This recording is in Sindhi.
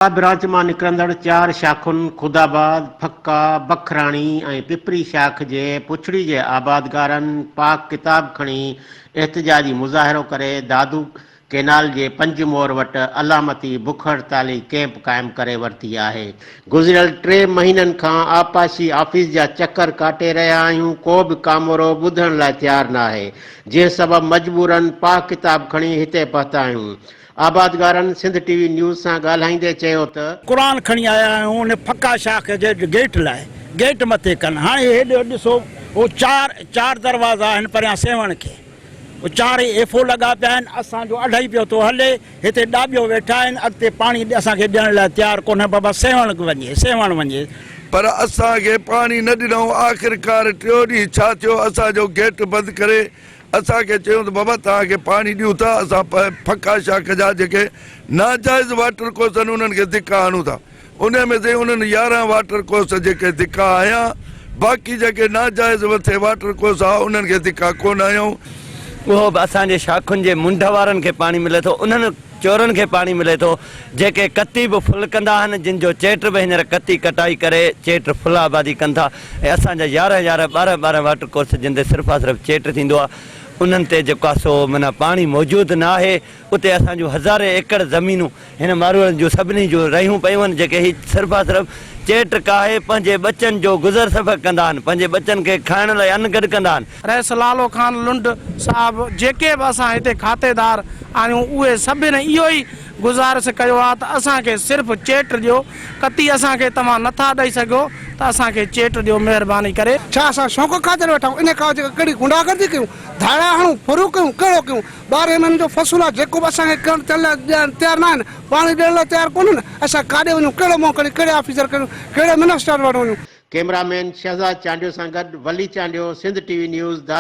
آء برانچ مان نڪرندڙ چار شاخن خودآباد، ڦڪا، بکراڻي ۽ پپري شاخ جي پڇڙي جي آبادگارن پاڪ ڪتاب کڻي احتجاجي مظاهرو ڪري دادو ڪينال جي پنج مور وٽ علامتي بک هڙتالي ڪئمپ قائم ڪري ورتي آهي. گذريل ٽي مهينن کان آبپاشي آفيس جا چڪر ڪاٽي رهيا آهيون، ڪو به ڪامورو ٻڌڻ لاء تيار ناهي، جنهن سبب مجبورن پاڪ ڪتاب کڻي هتي پهتا آهيون. آبادگارن سنڌ ٽي وي نيوز سان ڳالهائيندي چيو ته. قرآن کڻي آيا آهيون ان ڦڪا شاخ جي گيٽ لاء گيٽ مٿي ڪن هاڻي هيڏي ڏسو هو چار چار دروازا آهن پريان سيوهڻ کي هو چارئي ايفو لڳا پيا آهن اسان جو اڍائي پيو ٿو هلي هتي ڏاٻيو ويٺا آهن اڳتي پاڻي اسان کي ڏيڻ لاء تيار ڪونهي بابا سيوهڻ وڃي سيوهڻ وڃي. پر اسان کي پاڻي نه ڏنائون آخرڪار ٽيو ڏينهن ڇا ٿيو اسان جو گيٽ بند ڪري اسان کي چيو ته بابا توهان کي پاڻي ڏيون ٿا اسان ڦڪا شاخ جا جيڪي ناجائز واٽر ڪورس آهن انهن کي ڌڪا هڻون ٿا انهي ۾ سائين انهن يارهن واٽر ڪورس جيڪي ڌڪا هنيا باقي جيڪي ناجائز وٿي واٽر ڪورس ها انهن کي ڌڪا ڪونه هنيائون. اهو به اسان جي شاخن جي منڍ وارن کي پاڻي ملي ٿو انهن چورن کي پاڻي ملي ٿو، جيڪي ڪتي به ڦل ڪندا آهن، جن جو چيٽ به هينئر ڪتي ڪٽائي ڪري چيٽ ڦل آبادي ڪن ٿا ۽ اسان جا يارهن يارهن ٻارهن ٻارهن واٽر ڪورس جن تي صرفا صرف چيٽ ٿيندو آهي انهن تي جيڪو آهي سو معنيٰ پاڻي موجود نه آهي اتي اسان جون هزارين ايڪڙ زمينون هن ماروئڙن جون سڀني جون رهيون پيون آهن جيڪي هي صرفا صرف چيٽ ڪاهي پنهنجي ٻچن جو گذر سفر ڪندا آهن پنهنجي ٻچن کي کائڻ لاء ان گڏ ڪندا آهن رئيس لالو خان لنڊ صاحب جيڪي به اسان هتي کاتيدار آهيون اهي سڀن اهو ئي گذارش ڪيو آهي ته اسان کي صرف چيٽ ڏيو ڪتي اسان کي توهان نه ٿا ڏئي سگهيو ته اسان کي چيٽ ڏيو مهرباني ڪري. ڇا اسان شوق خاطر ويٺا آهيون انهي کان وڌيڪ ڪهڙي غنڊا گردي ڪيون ڌاڙا هڻون ڦرون ڪيون ڪهڙو ڪيون ٻارهين مهينن جو فصل آهي جيڪو به اسان کي ڪڻڪ تيل لاء ڏيڻ تيار نه آهن پاڻي ڏيڻ لاء تيار ڪونهن اسان ڪاڏي وڃون ڪهڙو منهن کڻي ڪهڙي آفيسر کي ڏيون ڪهڙي منسٽر وٽ وڃون. ڪيمرا مين شهزاد چانڊيو سان گڏ Wali Chandio, Sindh T V news, Dadu.